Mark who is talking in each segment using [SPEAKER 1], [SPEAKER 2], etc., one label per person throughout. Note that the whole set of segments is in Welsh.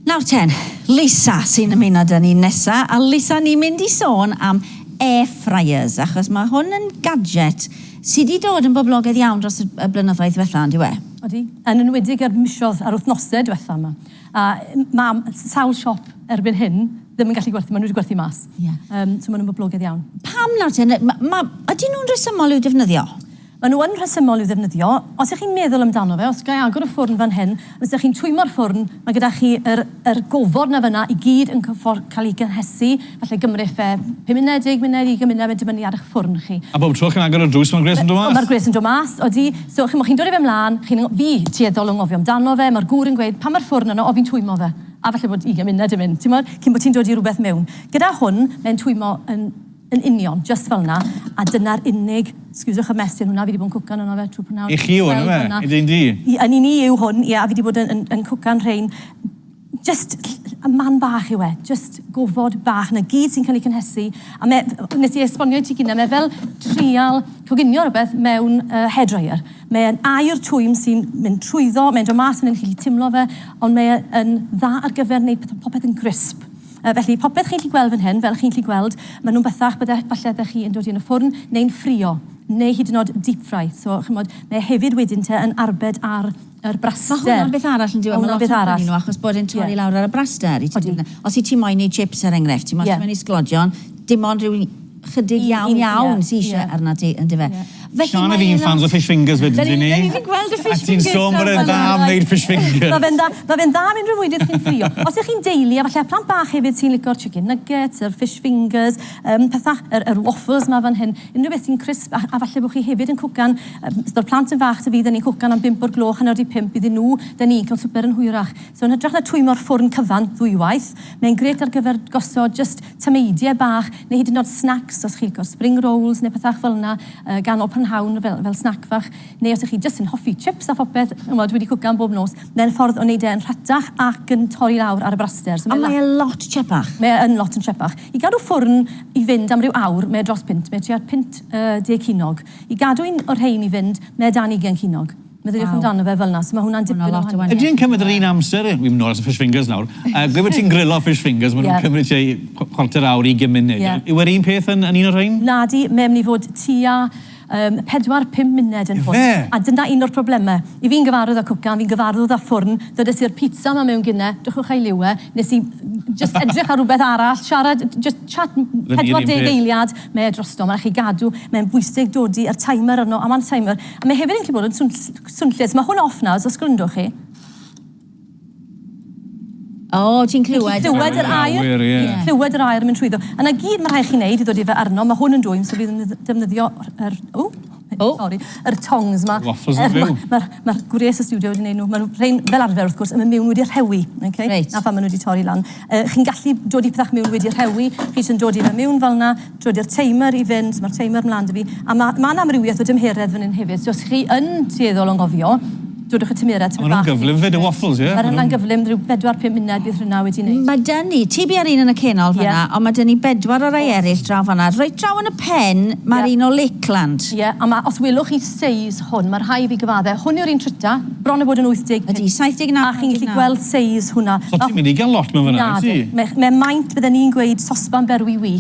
[SPEAKER 1] Nawr ten, Lisa sy'n ymuno dyn ni nesa, a Lisa ni'n mynd i sôn am air fryers, achos mae hwn yn gadget sydd wedi dod yn boblogaidd iawn dros y, y blynyddoedd diwetha, on'd yw e? Odi, yn enwedig
[SPEAKER 2] ar misodd a'r wythnose diwetha yma. A mae sawl siop erbyn hyn ddim yn gallu gwerthu, maen nhw wedi gwerthu mas. Yeah. Um, so maen nhw'n boblogaidd iawn. Pam nawr ten,
[SPEAKER 1] ma, ma, ydyn nhw'n resymol i'w defnyddio? Maen nhw yn
[SPEAKER 2] rhesymol i'w ddefnyddio, os y'ch chi'n meddwl amdano fe, os ga i agor y ffwrn fan hyn, os y'ch chi'n twymmo'r ffwrn, mae gyda chi yr yr gofod 'na fan'na i gyd yn cyffor- cael ei gynhesu, falle gymrith fe pum munud, deg munud, ugain munud, mae'n dibynnu ar y'ch ffwrn chi. A bob tro chi'n agor y drws
[SPEAKER 3] mae'r gwres yn dod mas? Mae'r gwres yn dod mas, odi.
[SPEAKER 2] So, chimod, chi'n dod â fe 'mlaen, chi'n ng- fi, tueddol o ngofio amdano fe, mae'r gŵr yn gweud, pan mae'r ffwrn yno, o, fi'n twymmo fe, a falle bod ugain munud yn mynd, timod, cyn bod ti'n dod i rywbeth mewn. Gyda hwn, mae'n twymmo yn Yn union, jyst fel 'na, a dyna'r unig, scusiwch y mess yn hwnna, fi 'di bod yn cwcan yno fe trwy prynawn. I chi yw hwn yfe? Fel hwnna.
[SPEAKER 3] I dy di? I, yn i ni yw hwn,
[SPEAKER 2] ie, a fi 'di bod yn, yn, yn cwcan rhein. Jyst y man bach yw e, jyst gofod bach, 'na gyd sy'n cael ei cynhesu, a me- f- wnes i esbonio i ti gynne, mae fel trial coginio rywbeth mewn yy hair dryer. Mae e'n aer twym sy'n mynd trwyddo, mae'n dod mas fan hyn, chi'n gallu timlo fe, ond mae e yn dda ar gyfer wneud peth- popeth yn grisp. Yy, felly, popeth chi'n gallu gweld fan hyn, fel chi'n gallu gweld, ma' nhw'n bethach bydde, falle ydych chi yn dod i yn y ffwrn neu'n ffrio, neu hyd yn oed deep fry. So, ch'mod, mae hefyd wedyn te yn arbed ar yr braster. Ma' hwnna'n beth arall yndyw
[SPEAKER 1] e? Ma' hwnna'n beth arall. Ma' lot ohonyn nhw achos bod e'n torri lawr ar y braster i ti... Odi. ...os 'yt ti moyn neud chips er enghraifft, ti moyn... Ie. ...ti moyn neud sglodion, dim ond ryw chydig iawn iawn sy eisiau arnat ti, yn dyfe? Siân a fi yn fans o fish fingers wedyn, dyn ni? Dyn ni'n
[SPEAKER 3] gweld y fish fingers. A ti'n
[SPEAKER 1] sôn bod e'n dda
[SPEAKER 3] am wneud fish fingers. Mae fe'n dda, mae fe'n dda am
[SPEAKER 2] unrhyw fwyd chi'n ffrio. Os ych chi'n deulu, a falle plant bach hefyd sy'n licio'r chicken nuggets, yr fish fingers, yym pethau, yr yr waffles ma fan hyn, unrhyw beth sy'n crisp, a a falle bod chi hefyd yn cwcan, yym os yw'r plant yn fach ta fi, dyn ni'n cwcan am bump o'r gloch, hanner di pump iddyn nhw, dyn ni'n cael swper yn hwyrach. So yn hytrach na twymmo'r ffwrn cyfan ddwywaith, mae'n grêt ar gyfer gosod jyst tameidiau bach neu hyd yn nod snacks os chi'n licio spring rolls neu pethach fel yna yy ganol prynhawn fel fel snack fach neu os ych chi jyst yn hoffi chips a phopeth ch'mod wedi cwcan bob nos mae'n ffordd o neud e yn rhatach ac yn torri lawr ar y braster so A mae e lot
[SPEAKER 1] tsiepach. Mae e yn lot yn tsiepach.
[SPEAKER 2] I gadw ffwrn i fynd am ryw awr mae e dros punt mae e tua punt yy deg cinog. I gadw un o'r rhein i fynd mae e dan ugain cinog. Meddyliwch amdano fe fel 'na. So ma' hwnna'n dipyn o wahaniaeth. Ydy e'n cymryd yr un amser?
[SPEAKER 3] Wi myn' nôl at y fish fingers nawr. Yy gweud bo' ti'n grilo fish fingers ma' nw'n cymryd tua chw- chwarter awr, ugen munud. Ie. Yw e'r un peth yn yn un o'r rhein? Nadi, mae myn' i fod
[SPEAKER 2] tua yym pedwar, pum muned yn hwn. Ife? A dyna un o'r probleme. I fi'n gyfarwydd â cwcan, fi'n gyfarwydd â ffwrn, ddydes i'r pizza 'ma mewn gune, dwchwch a'i liw e, nes i jyst edrych ar rwbeth arall, siarad, jyst chat m- pedwar deg eiliad, mae e drosto, ma' rai' chi gadw, mae'n bwysig dodi yr timer arno, a ma'n timer, A mae hefyd yn gallu bod yn swn, swnllys. Mae hwn off nawr, os os gwrndwch chi.
[SPEAKER 1] O, oh, ti'n clywed. Ti'n clywed yr air.
[SPEAKER 2] Ti'n clywed yr air yn mynd trwyddo. A na gyd mae rhaid chi'n neud i ddod i fe arno. Mae hwn yn dwy'n so bydd yn defnyddio yr... O, oh. sorry, yr tongs yma. Waffles yn fyw. Mae'r
[SPEAKER 3] ma, ma, ma gwres y
[SPEAKER 2] studio wedi gwneud nhw. Mae'n rhain fel arfer, wrth gwrs, yn mynd mewn wedi rhewi. Okay? Reit. Na pha maen nhw wedi torri lan. Uh, chi'n gallu dod i pethach mewn wedi rhewi. Chi sy'n dod i fe mewn fel yna. Dod i'r timer i fynd, mae'r timer mlaen 'da fi, a ma' ma' 'na amrywiaeth o dymheredd fan hyn hefyd, so os chi yn tueddol o anghofio, dodwch y tymerau tipyn bach... A ma' nhw'n gyflym 'fyd y
[SPEAKER 3] waffles ie? Ma'r hynna'n gyflym, ryw bedwar,
[SPEAKER 2] pum munud bydd hynna wedi neud. Ma' 'da ni, ti biau'r
[SPEAKER 1] un yn y canol fan'na... Ie. ...ond ma' 'da ni bedwar o rai eryll draw fan'na, reit draw yn y pen... Ie. ...ma'r un o Lakeland. Ie, a ma', os welwch
[SPEAKER 2] chi, seis hwn, mae rhai fi gyfadde. Hwn yw'r un tryta, bron a bod yn 85. Ydy, 79, 89. A chi'n
[SPEAKER 1] gallu gweld
[SPEAKER 2] seis hwnna. So ti'n mynd i gael lot mewn
[SPEAKER 3] fan'na, wyt ti? Na, mae maint, bydden
[SPEAKER 2] i'n gweud, sosban berwi wi.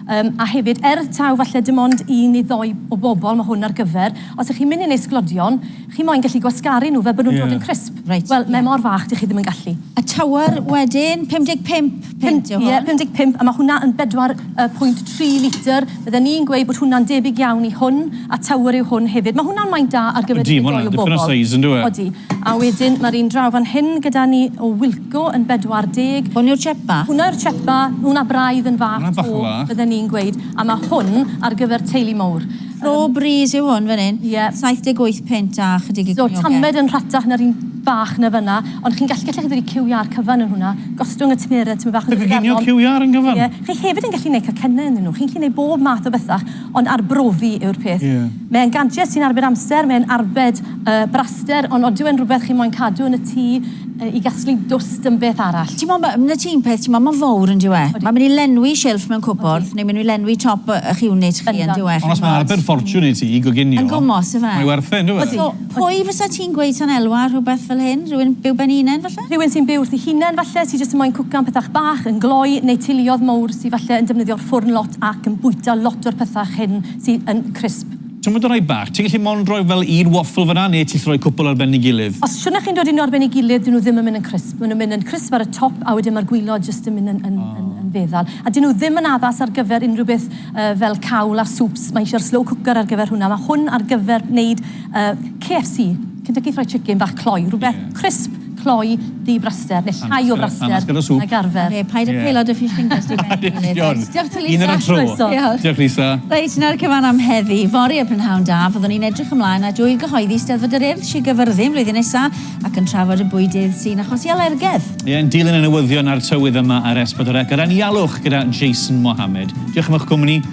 [SPEAKER 2] Um, a hefyd, er taw falle dim ond un neu ddoi o bobl mae hwn ar gyfer, os ych chi'n mynd i'n ei sglodion, chi moyn gallu gwasgaru nhw fel bod nhw'n yeah. dod yn crisp. Right, Wel, yeah. mae mor fach, dych chi ddim yn gallu. A tywr
[SPEAKER 1] wedyn, 55. Pumdeg pump, ie, pumdeg pump, a ma' hwnna
[SPEAKER 2] yn bedwar yy pwynt tri litr. Bydden i'n gweud bod hwnna'n debyg iawn i hwn, a Tower yw hwn hefyd. Ma' hwnna'n maint da ar gyfer dipyn mwy o bobl. Odi, ma' hwnna'n dipyn o size yndyw e? Odi. A wedyn ma'r un draw fan hyn gyda ni o Wilko yn bedwar deg. Hwn yw'r chepa? Hwnna
[SPEAKER 1] yw'r chepa,
[SPEAKER 2] hwnna braidd yn fach to, bydden i'n gweud, a ma' hwn ar gyfer teulu mowr. Pro Breeze
[SPEAKER 1] yw hwn fan hyn. Ie. 78 punt a chydig i gnioged. So, tamed yn rhatach
[SPEAKER 2] na'r un bach 'na fynna, ond chi'n gallu, gallech chi ddweud i QR cyfan yn hwnna, gostwng y tymheredd tymed bach... Dy goginio QR yn gyfan?
[SPEAKER 3] Ie. Chi hefyd yn gallu neud
[SPEAKER 2] cacenne ynddyn nhw, chi'n gallu neud bob math o bethach, ond arbrofi yw'r peth. Ie. Mae'n gadget sy'n arbed amser, mae'n arbed Y braster, ond odyw e'n rhywbeth chi moyn cadw yn y tŷ i gasglu dwst yn beth arall? T'mo, ma- na ti'n
[SPEAKER 1] peth, t'mo, ma'n fowr on'd yw e? Odi. Ma'n myn' i lenwi shilff mewn cwpwrdd, neu myn' i lenwi top y- y'ch unit chi on'd yw e? Ond os ma'n arbed ffortiwn
[SPEAKER 3] i ti i goginio... Yn gwmws yfe? ...mae
[SPEAKER 1] werth e on'd yw e? So,
[SPEAKER 3] pwy fysa
[SPEAKER 1] ti'n gweud sa'n elwa ar rhywbeth fel hyn? Rhywun byw ben 'i hunen falle? Rhywun sy'n byw wrthi hunen
[SPEAKER 2] falle, sy jyst yn moyn cwcan pethach bach, yn gloi, neu teuluodd mowr sy falle yn defnyddio'r ffwrn lot ac yn bwyta lot o'r pethach hyn sy yn crisp. Symud y rhai bach. Ti'n
[SPEAKER 3] gallu mond rhoi fel un waffle fan'na neu ti'n gallu rhoi cwpwl ar ben ei gilydd? Os shwna chi'n dod i nhw ar ben
[SPEAKER 2] ei gilydd, dyn nhw ddim yn mynd yn crisp. Maen nhw'n mynd yn crisp ar y top a wedyn mae'r gwilod jyst yn mynd yn feddal. A dyn nhw ddim yn addas ar gyfer unrhyw beth fel cawl a swps. Mae isio'r slow cooker ar gyfer hwnna. Mae hwn ar gyfer wneud KFC. Gyda chi rhoi chicken bach cloi, rhywbeth crisp, cloi, ddu braster, neu llai o fraster nag arfer. Ie, paid â pêlo dy fish
[SPEAKER 1] fingers di mewn i hynny does. Diolch ti Lisa. Un
[SPEAKER 3] ar y tro. Diolch. Diolch Lisa. Reit, 'na'r cyfan am
[SPEAKER 1] heddi. Fory y prynhawn da, fyddwn ni'n edrych ymlaen at Ŵyl Gyhoeddi Steddfod yr Urdd, Sir Gyfyrddin, flwyddyn nesa, ac yn trafod y bwydydd sy'n achosi alergedd. Ie, yn dilyn y newyddion
[SPEAKER 3] a'r tywydd yma ar S4C, gyda'n ialwch gyda Jason Mohammed. Diolch am eich cwmni.